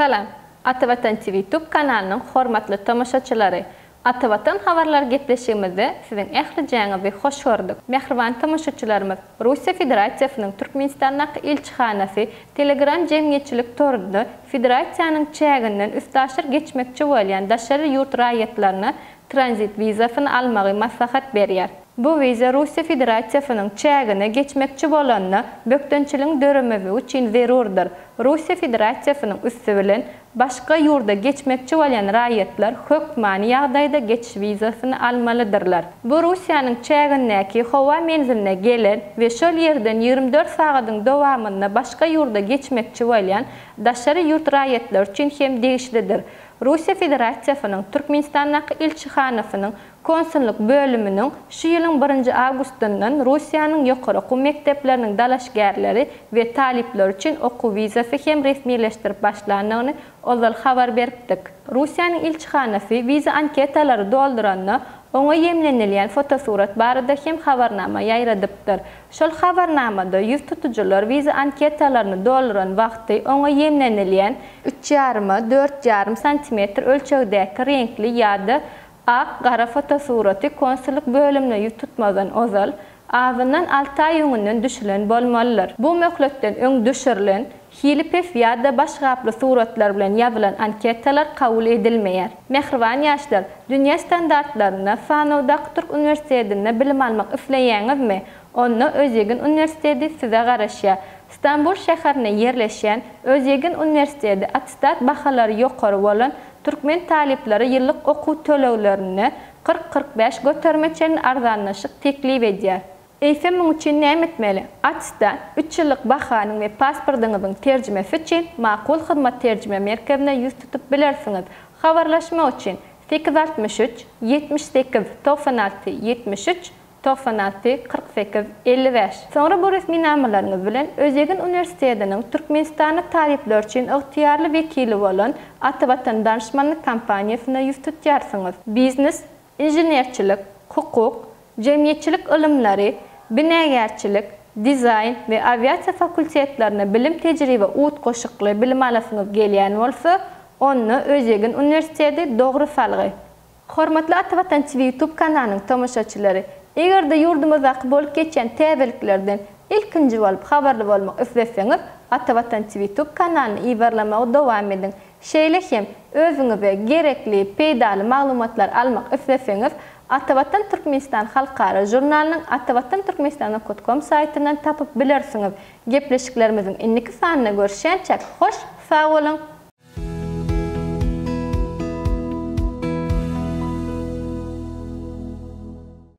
Salam! Atavatan TV tub kanalynyň hormatly tomaşaçylary! Atavatan habarlar gepleşigimizde siziň ählijäňizi hoş gördük. Mähriban tomaşaçylarymyz, Russiýa Federasiýasynyň Türkmenistandaky ilçihanasy Telegram jemgyýetçilik torunda federasiýanyň çäginden üstaşyr geçmekçi bolýan daşary ýurt raýatlaryna tranzit wizasyny almagy maslahat berýär. Bu wiza Russiýa Federasiýasynyň çägine geçmekçi bolanda bökdençiligiň döremezligi üçin zerurdyr. Russiýa Federasiýasynyň üsti bilen başga ýurda geçmekçi bolýan raýatlar hökmany ýagdaýda geçiş wizasyny almalydyrlar. Bu Russiýanyň çägindäki howa menziline gelen we şol ýerden ýigrimi dört sagadyň dowamynda başga ýurda geçmekçi bolýan daşary ýurt raýatlary üçin hem degişlidir. Russiýa Federasiýasynyň Türkmenistandaky ilçihanasynyň konsullyk bölüminiň şu ýylyň birinji awgustyndan Russiýanyň ýokary okuw mekdepleriniň dalaşgärleri we talyplary üçin okuw wizasy hem resmileşdirip başlandygyny ozal habar beripdik. Russiýanyň ilçihanasy wiza anketalary dolduranda oňa ýemlenilýän fotosurat barada hem habarnama ýaýradypdyr. Şol habarnamada ýüz tutujylar wiza anketalaryny dolduran wagty oňa ýeňlenilýän, üç ýaryma dört ýarym santimetr ölçegdäki reňkli ýa-da ak, gara fotosuraty konsullyk bölümine ýüz tutmazdan ozal, azyndan alty aý öňünden düşülen bolmalydyr. Bu möhletden öň düşürilen Hili pes ýa-da baş gaply suratlar bilen ýazylan anketalar kabul edilmeýär. Mähriban ýaşlar, dünýä standartlarynda sanawdaky türk uniwersitetinde bilim almak isleýäňizmi? Onda Özýegin uniwersiteti size garaşýar. Stambul şäherinde ýerleşýän Özýegin uniwersiteti attestat bahalary ýokary bolan türkmen talyplara ýyllyk okuw töleglerinde kyrk-kyrk bäş göterime çenli arzanlaşyk teklip edýär. Eýsem muň üçin näme etmeli? ATIS-de üç ýyllyk bahanyň we pasportyňyzyň terjimesi üçin Makul Hyzmat terjime merkezine ýüz tutup bilersiňiz. Habarlaşmak üçin, sekiz altmyş üç, ýetmiş sekiz, togsan alty, ýetmiş üç, togsan alty, kyrk sekiz, elli bäş. Soňra bu resminamalaryňyz bilen Özýegin uniwersitetiniň Türkmenistanly talyplar üçin ygtyýarly wekili bolan Atavatan Danışmanlyk kompaniýasyna ýüz tutýarsyňyz. Biznes, inženerçilik, hukuk, jemgyýetçilik ylymlary, binagärçilik, dizaýn we awiasiýa fakultetlerine bilim-tejribe utgaşykly bilim alasyňyz gelýän bolsa, onda Özýegin uniwersiteti dogry salgy. Hormatly Ata Watan TV YouTube kanalynyň tomaşaçylary! Eger-de ýurdumyzdaky bolup geçýän täzeliklerden ilkinji bolup habarly bolmak isleseňiz, Ata Watan TV YouTube kanalyny ýybarlamagy dowam ediň! Şeýle hem, özüňize gerekli peýdaly maglumatlary almak isleseňiz, Atavatan Türkmenistan halkara žurnalynyň atawatanturkmenistan.com saýtyndan tapyp bilersiňiz. Gepleşiklerimiziň indiki sanynda görüşýänçä, hoş sag boluň!